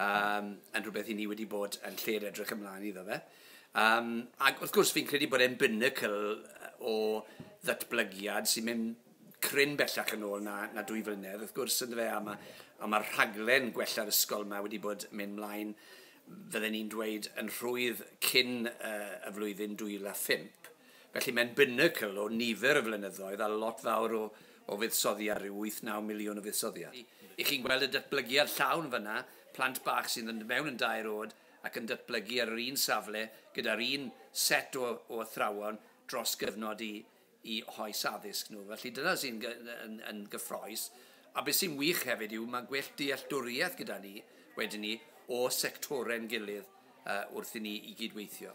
um, yn rhywbeth i ni wedi bod yn lle'r edrych ymlaen iddo fe. Um, ac wrth gwrs, fi'n credu bod e'n binnacle o ddatblygiad sy'n mynd cryn bellach yn ôl na, na dwy flynedd, wrth gwrs, yn fe, a mae a ma rhaglen gwella'r ysgol yma wedi bod yn mynd mlaen, fydden ni'n dweud, yn rhwydd cyn uh, y flwyddyn 2005. Felly, mae'n binacl o nifer o flynyddoedd a lot fawr o, o fuddsoddiad, rhyw wyth, naw miliwn o fuddsoddiad. I chi'n gweld y datblygiad llawn fan'na, plant bach sy'n mynd mewn yn dair oed ac yn datblygu ar yr un safle gyda'r un set o, o athrawon dros gyfnod i, i hoes addysg nhw. Felly dyna sy'n yn, yn gyffroes. A beth sy'n wych hefyd yw mae gwell dealltwriaeth gyda ni, wedyn ni, o sectorau'n gilydd uh, wrth i ni i gydweithio.